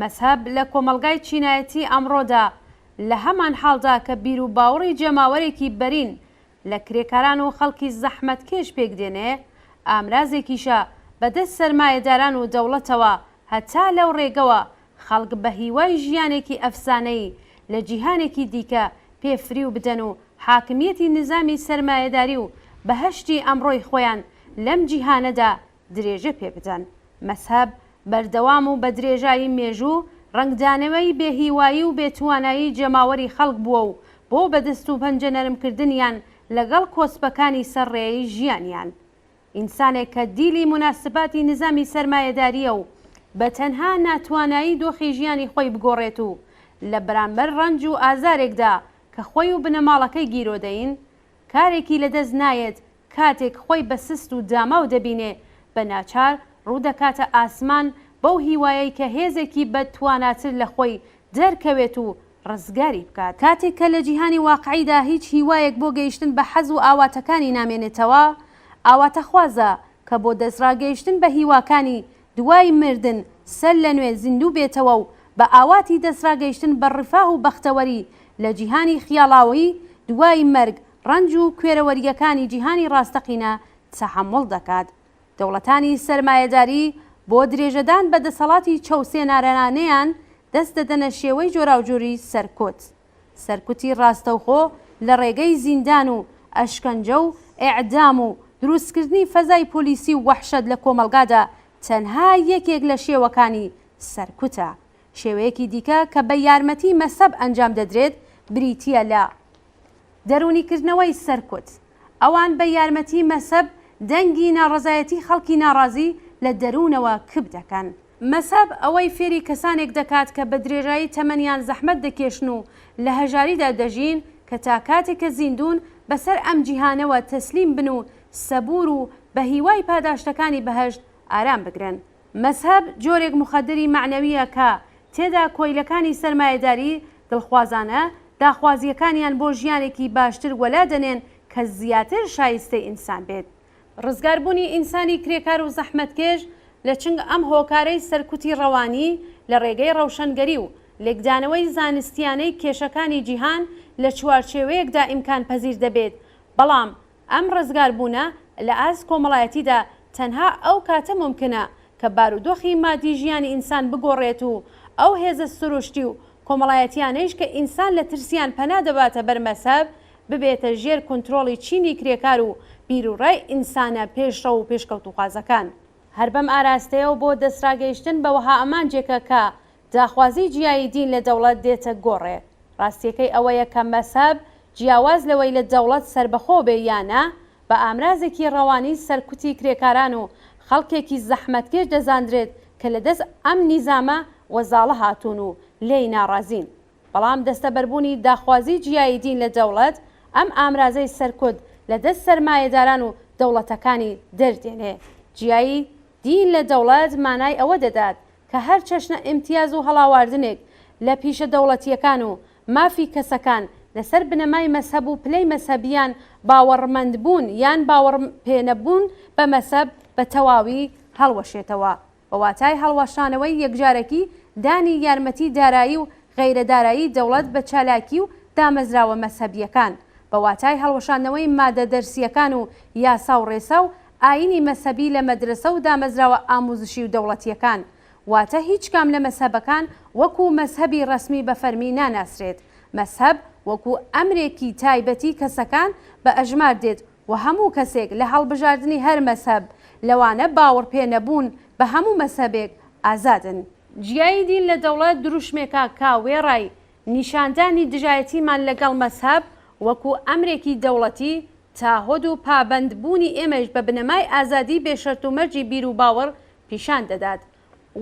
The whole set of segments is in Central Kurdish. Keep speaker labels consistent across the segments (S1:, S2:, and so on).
S1: مەزهەب لە کۆمەڵگای چینایەتی ئەمڕۆدا، لە هەمان حاڵدا کە بیروباوڕی جەماوەرێکی بەرین لە کرێکاران و خەڵکی زەحمەتکێش پێک دێنێ، ئامرازێکیشە بە دەست سەرمایەداران و دەوڵەتەوە، هەتا لەو ڕێگەوە خەڵک بە هیوای ژیانێکی ئەفسانەیی لە جیهانێکی دیکە پێ فریو بدەن و حاکمییەتی نیزامی سەرمایەداری و بەهەشتی ئەمڕۆی خۆیان لەم جیهانەدا درێژە پێ بدەن. مەزهەب بەردەوام و بە درێژایی مێژوو ڕەنگدانەوەی بێ هیوایی و بێ توانایی جەماوەری خەڵک بووە و بۆ بە دەست و پەنجە نەرم کردنیان لەگەڵ کۆسپەکانی سەر ڕێی ژیانیان ئینسانێک کە دیلی موناسباتی نیزامی سەرمایەدارییە و بە تەنها ناتوانایی دۆخی ژیانی خۆی بگۆڕێت و لە بەرامبەر ڕەنج و ئازارێکدا کە خۆی و بنەماڵەکەی گیرۆدەین کارێکی لەدەست نایەت، کاتێک خۆی بە سست و داماو دەبینێ، بە ناچار ڕوو دەکاتە ئاسمان بەو هیوایەی کە هێزێکی بە تواناتر لە خۆی دەرکەوێت و ڕزگاری بکات. کاتێک کە لە جیهانی واقعیدا هیچ هیوایەک بۆ گەیشتن بە حەز و ئاواتەکانی نامێنێتەوە، ئاواتەخوازە کە بۆ دەستڕاگەیشتن بە هیواکانی دوای مردن سەر لەنوێ زیندوو بێتەوە و بە ئاواتی دەستڕاگەیشتن بە ڕفاه و بەختەوەری لە جیهانی خیاڵاویی دوای مەرگ، ڕەنج و کوێرەوەرییەکانی جیهانی ڕاستەقینە تەحەموڵ دەکات. دەوڵەتانی سەرمایەداری بۆ درێژەدان بە دەسەڵاتی چەوسێنارانەیان، دەست دەدەنە شێوەی جۆراوجۆری سەرکوت. سەرکوتی ڕاستەوخۆ لە ڕێگەی زیندان و ئەشکەنجە و ئێعدام و دروستکردنی فەزای پۆلیسی و وەحشەت لە کۆمەڵگادا تەنها یەکێک لە شێوەکانی سەرکوتە. شێوەیەکی دیکە کە بە یارمەتی مەسەب ئەنجام دەدرێت بریتییە لە دەروونیکردنەوەی سەرکوت. ئەوان بە یارمەتی مەسەب دەنگی ناڕەزایەتی خەڵکی ناڕازی لە دەروونەوە کپ دەکەن. مەزهەب ئەوەی فێری کەسانێک دەکات کە بە درێژایی تەمەنیان زەحمەت دەکێشن و لە هەژاریدا دەژین کە تا کاتێک کە زیندوون بەسەر ئەم جیهانەوە تەسلیم بن و سەبوور و بە هیوای پاداشتەکانی بەهەشت ئارام بگرن. مەزهەب جۆرێک موخەدری مەعنەوییە کە تێدا کۆیلەکانی سەرمایەداری دڵخوازانە داخوازییەکانیان بۆ ژیانێکی باشتر وەلا دەنێن کە زیاتر شایستەی ئینسان بێت. ڕزگاربوونی ئینسانی کرێکار و زەحمەتکێش لە چنگ ئەم هۆکارەی سەرکوتی ڕەوانی لە ڕێگەی ڕەوشەنگەری و لێکدانەوەی زانستیانەی کێشەکانی جیهان لە چوارچێوەیەکدا ئیمکان پەزیر دەبێت بەڵام ئەم ڕزگاربوونە لە ئاست کۆمەڵایەتیدا تەنها ئەو کاتە مومکنە کە بارودۆخی مادی ژیانی ئینسان بگۆڕێت و ئەو هێزە سروشتی و کۆمەڵایەتیانەیش کە ئینسان لە ترسیان پەنا دەباتە بەر مەزهەب ببێتە ژێر کونترۆڵی چینی کرێکار و بیروڕای ئینسانە پێشڕەو و پێشکەوتووخوازەکان. هەر بەم ئاراستەیەوە بۆ دەستڕاگەیشتن بە وەها ئامانجێکە کە داخوازیی جیایی دین لە دەوڵەت دێتە گۆڕێ. ڕاستییەکەی ئەوەیە کە مەزهەب، جیاواز لەوەی لە دەوڵەت سەربەخۆ بێ یا نا، بە ئامرازێکی ڕەوانی سەرکوتی کرێکاران و خەڵکێکی زەحمەتکێش دەزاندرێت کە لە دەست ئەم نیزامە وەزاڵە هاتوون و لێی ناڕازین. بەڵام دەستەبەربوونی داخوازی جیایی دین لە دەوڵەت، ئەم ئامرازەی سەرکوت لە دەست سەرمایەداران و دەوڵەتەکانی دەردێنێ. جیایی دین لە دەوڵەت مانای ئەوە دەدات کە هەر چەشنە ئیمتیاز و هەڵاواردنێک لە پیشە دەوڵەتییەکان و مافی کەسەکان لە سەر بنەمای مەزهەب و پلەی مەزهەبییان باوەڕمەندبوون یان باوەڕ پێنەبوون بە مەزهەب بە تەواوی هەڵوەشێتەوە. بە واتای هەڵوەشانەوەی یەکجارەکی دانی یارمەتی دارایی و غەیرە دارایی دەوڵەت بە چالاکی و دامەزراوە مەزهەبییەکان، بە واتای هەڵوەشاندنەوەی مادە دەرسییەکان و یاسا و ڕێسا و ئایینی مەزهەبی لە مەدرەسە و دامەزراوە ئامووزشی و دەوڵەتییەکان، واتە هیچ کام لە مەزهەبەکان وەکوو مەزهەبی ڕەسمی بە فەرمی ناناسرێت، مەزهەب وەکوو ئەمرێکی تایبەتی کەسەکان بە ئەژمار دێت وە هەموو کەسێک لە هەڵبژاردنی هەر مەزهەب، لەوانە باوەڕ پێ نەبوون بە هەموو مەزهەبێک، ئازادن. جیایی دین لە دەوڵەت دروشمێکە کە وێڕای نیشاندانی دژایەتیمان لەگەڵ مەزهەب وەکو ئەمرێکی دەوڵەتی، تاهۆد و پابەند بوونی ئێمەیش بە بنەمای ئازادی بێ شەرت و مەرجی بیر و باوەڕ پیشان دەدات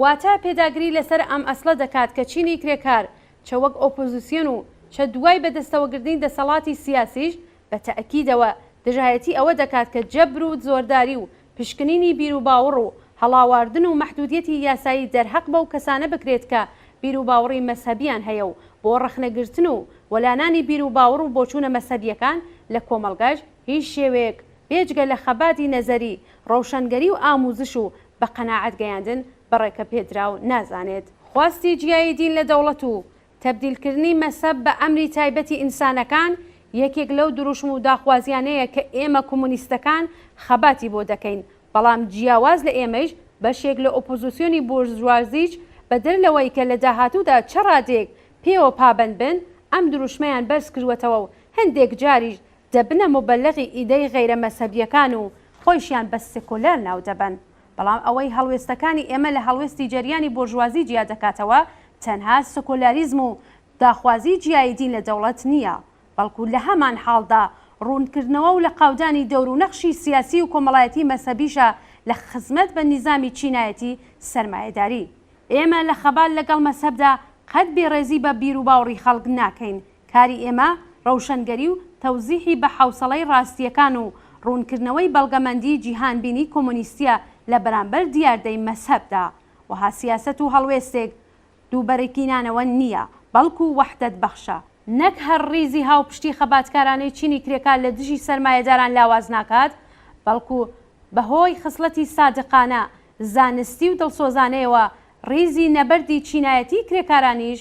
S1: واتە پێداگری لەسەر ئەم ئەسڵە دەکات کە چینی کرێکار چە وەک ئۆپۆزیسیۆن و چە دوای بەدەستەوەگردنی دەسەڵاتی سیاسیش بە تەئکیدەوە دژایەتی ئەوە دەکات کە جەبر و زۆرداری و پشکنینی بیروباوڕ و هەڵاواردن و مەحدودیەتی یاسایی دەرهەق بەو کەسانە بکرێت کە بیروباوڕی مەزهەبیان هەیە و بۆ ڕەخنەگرتن و وەلانانی بیروباوڕ و بۆچوونە مەزهەبیەکان لە کۆمەڵگاش هیچ شێوەیەک بێجگە لە خەباتی نەزەری، ڕەوشەنگەری و ئامووزش و بە قەناعەت گەیاندن بە ڕێکەپێدراو نازانێت. خواستی جیایی دین لە دەوڵەت و تەبدیلکردنی مەسەب بە ئەمری تایبەتی ئینسانەکان یەکێک لەو دروشم و داخوازییانەیە کە ئێمە کۆمۆنیستەکان خەباتی بۆ دەکەین، بەڵام جیاواز لە ئێمەیش بەشێک لە ئۆپۆزیسیۆنی بۆرژوازیش بەدەر لەوەی کە لە داهاتوودا چ ڕادەیەک پێوە پابەند بن ئەم دروشمەیان بەرز کردووەتەوە و هەندێک جاریش دەبنە موبەلەغی ئیدەی غەیرە مەزهەبیەکان و خۆیشیان بە سکۆلار ناو دەبەن، بەڵام ئەوەی هەڵوێستەکانی ئێمە لە هەڵوێستی جەریانی بۆرژوازی جیا دەکاتەوە تەنها سکۆلاریزم و داخوازی جیایی دین لە دەوڵەت نیە، بەڵکو لە هەمان حاڵدا ڕوونکردنەوە و لەقاودانی دەور و نەخشی سیاسی و کۆمەڵایەتی مەزهەبیشە لە خزمەت بە نیزامی چینایەتی سەرمایەداری. ئێمە لە خەبات لەگەڵ مەزهەبدا قەت بێڕێزی بە بیروباوڕی خەڵک ناکەین، کاری ئێمە ڕەوشەنگەری و تەوزیحی بە حەوسەڵەی ڕاستییەکان و ڕوونکردنەوەی بەڵگەمەندیی جیهانبینیی کۆمۆنیستییە لە بەرامبەر دیاردەی مەزهەبدا. وەها سیاسەت و هەڵوێستێک دووبەرەکینانەوە نییە، بەڵکو وەحدەتبەخشە. نەک هەر ڕیزی هاوپشتی خەباتکارانەی چینی کرێکار لە دژی سەرمایەداران لاواز ناکات، بەڵکو بەهۆی خسڵەتی سادقانە، زانستی و دڵسۆزانەیەوە ڕیزی نەبەردی چینایەتیی کرێکارانیش